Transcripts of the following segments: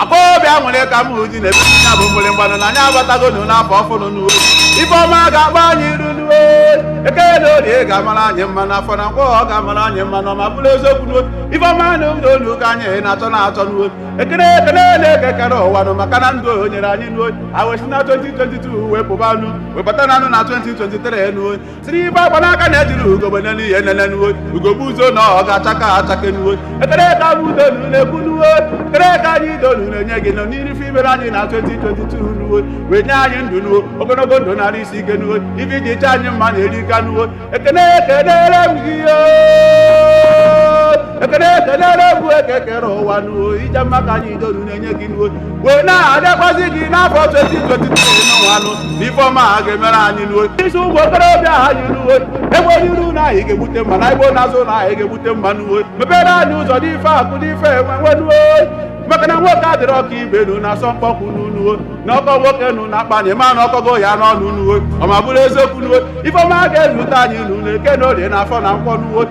akpọbịa nwere ka m uji na-ebe ya bụ mgbịrịgba nụ na anyị abatagonu n'afọ ọfụụ nụ nuo ife ọma ga-agba anyị iru nuo eke na orie ga-amara anyị mma na afọ na nkwọ ọ ga-amara anyị mma nụ ọ ma bụrụ eziokwu nuo ife ọma na ụlọ olu ka anyị na-achọ na-achọ nuo ekele ekelere eke kere ụwa nụ maka na ndụ o nyere anyị nuo e wee si na 2022 wee pụba nụ wee bata nụ na 2023 nuo sịrị ife agba n'aka na ejirọ ugogbe enene ya enene nuwo ugo gbuzuo na ọ ga-achake achake nuwo ekene ka mụ donu na-ekwu nuwo ekene ka anyị donu na-enye gị nụ n'iri ife i mere anyị na 2022 nuwo wee nye anyị ndụ nuwo ogologo ndụ na arụ isi ike nuwo ife i ji chee anyị mma na erika nuwo ekene ekenere m gị yo ekene ekenere m eke kere ụwa nuwo ịja mma ka anyị donu na-enye gị nuwo wee na-arịọkwazi gị n'afọ 2023 nụwa nụ na ifeọma ha ga-emere anyị nuo isi ụmụ okorobịa anyị nuo e gbuo n'iru na anyị ga-egbute mma na e gbuo n'azụ na anyị ga-egbute mma nuo mepere anyị ụzọ n'ife akụ n'ife enwe enwe nuo maka na nwoke adịrọ ka ibe nu na asọ mkpọkụ nu nuo na ọ kọ nwoke nu n'akpa na ị ma na ọ kọgo ya n'ọnụ nuo ọ ma bụrụ eziokwu nuo ifeọma ga-ezute anyị nu na eke na orie na afọ na nkwọ nuo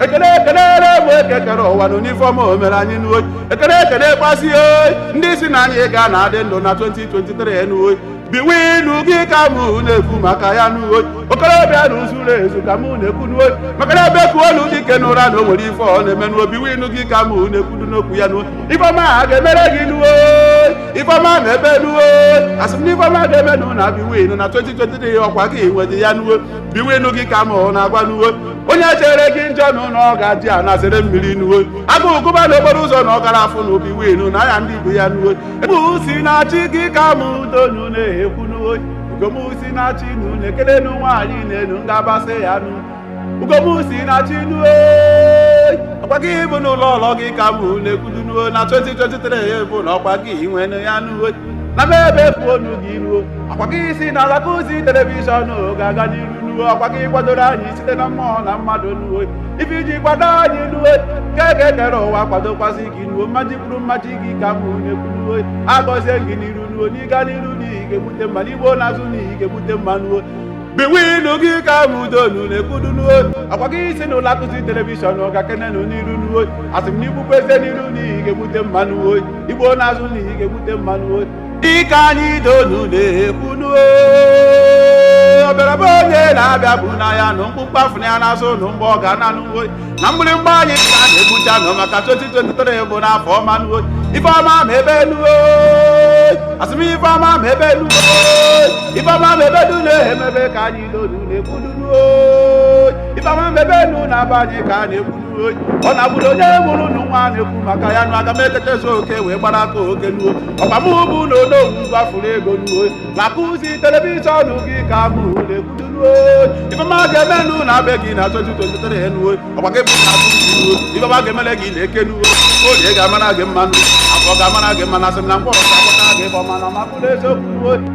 ekele ekelere mụ eke kere ụwa nụ n'ifeọma o mere anyị nuo ekele ekelekwasị ndị sị na anyị ga na-adị ndụ na 2023 nuo biwinu gị ka mụ na-ekwu maka ya nuo okorobịa nụ zuru ezu ka mụ na-ekwu nuo maka na e bekuo nu dike n'ụra na o nwere ife ọ na-eme nuo biwinu gị ka mụ na-ekwudu n'okwu ya nuo ifeọma a ga-emere gị nuo ifeọma mebe nuo asị m na ifeọma ga-eme nụ na biwinu na 2023 ọkwa gị nwedị ya nuo biwinu gị ka mụ na-agwa nuo onye chere gị njọ nụ ọ ga-eji ana zere mmiri nuo agụụ gụba n'okporo ụzọ na ọ karọ afụ na biwinu na ya ndị ibe ya nuo bụ si na chi gị ka m donu na-ekwu nuo ugo mụ si na chi nu na-ekele nu nwaanyị na-enu ngabasị ya nu ugo mụ si na chi nuo ọkwa gị bụ nụ lọlọ gị ka m na-ekwudu nuo na 2023 ya bụ na ọkwa gị nwenu ya nuo na m ebe efu onu gị nuo ọkwa gị sị na alaka ozi telivishọn ga-aga n'iru nuo ọkwa gị kwadoro anyị site na mmụọ na mmadụ nuo ife i ji kwado anyị nuo ka eke kere ụwa kwadokwasị gị nuo mmadụ kwuru mmadụ gị ka mụ na-ekwu nuo agọzie gị n'iru nuo na ị gaa n'iru na ị ga-egbute mma na i gbuo n'azụ na ị ga-egbute mma nuo biwinu gị ka mụ donu na-ekwudu nuo ọkwa gị sị na ụlọ akụzi telivishọn ga kenenu n'iru nuo asị m na i gbukwazie n'iru na ị ga-egbute mma nuo i gbuo n'azụ na ị ga-egbute mma nuo dịka anyị donu na-ekwu nuo ọbịara be onye na abịagbuna ya nụ mkpumkpu afụna ya n'azụ nụ mgbe ọ ga-ana nuo na mgbịrịgba anyị ka a na-egbucha nụ maka 2023 bụ n'afọ ọma nuo ife ọma mee be unu o asị m ife ọma mee be unu o ife ọma mee be unu na-emebe ka anyị n'olu na-ekwudu nuo ife ọma mee be unu n'aba anyị ka a na-ekwu nuo ọ na-abụrụ onye mụrụ nụ nwa na-ekwu maka ya nụ aga m ekekezu oke wee gbara aka oke nuo ọkwa mụ bụ na onowu gwafuru ego nuo na-akụzi telivishọn gị ka mụ na-ekwudu nuo ife ọma ga-eme nụ na be gị na 2023 nuo ọkwa gị bụ na atụrụ ife ọma ga-emele gị n'eke nuo orie ga-amara gị mma nụ afọ ga-amara gị mma nụ asị m na nkwọ ga-akpọta gị ife ọma na ọma bụrụ eziokwu